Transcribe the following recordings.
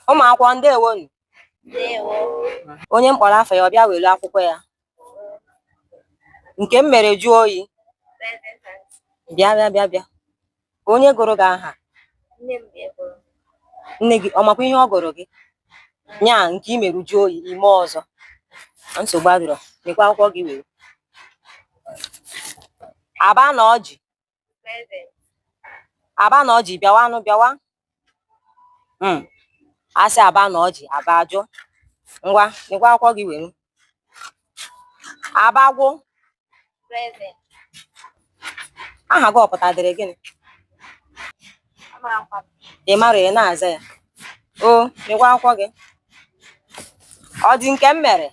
ụmụ akwụkwọ ndewonu onye m kpọrọ afa ya ọ bịa welu akwụkwọ ya nke m mere jụọ oyi bịa bịa bịa bịa ka onye gụrụ gị aha nne gị ọ makwa ihe ọ gụrụ gị nya nke i mere jụọ oyi i mee ọzọ nsogbu adịrọ nekwa akwụkwọ gị were aba na ọjị aba na ọjị bịawanụ bịawa hmm. a sị aba na ọjị aba ajụ ngwa nekwa akwụkwọ gị were abagwụ aha gị ọ pụtadịrị gịnị ị marọ ị na-aza ya o nekwa akwụkwọ gị ọ dị nke m mere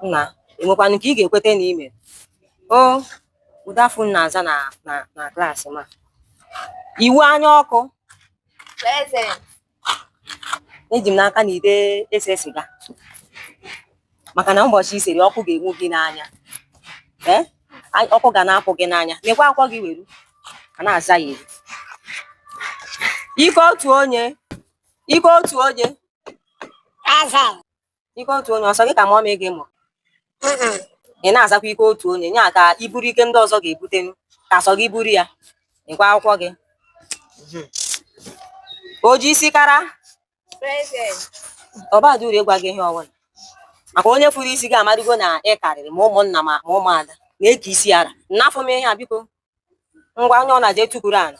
nna e nwekwanụ nke ị ga-ekweta na i mere o ụdị afa ụnụ na-aza na na na klaasị m a iwu anya ọkụ eji m n'aka na ị dị ese siga maka na ụbọchị i sere ọkụ ga-enwu gị n'anya ee ọkụ ga na-apụ gị n'anya nekwa akwụkwọ gị were a na-aza ya eri ike otu onye ike otu onye ike otu onye ọ sọ gị ka mọmị gị mụrụ ị na-azakwa ike otu onye nya ka i buru ike ndị ọzọ ga-ebute ka sọ gị buru ya nekwa akwụkwọ gị o ji isi kara ọ badị uru ịgwa gị ihe ọbụla maka onye furu isi gị amarugo na ị karịrị ma ụmụnna ma ụmụada na-eke isi ara nafụ m ihe a biko ngwa onye ọbụna je tukuru ala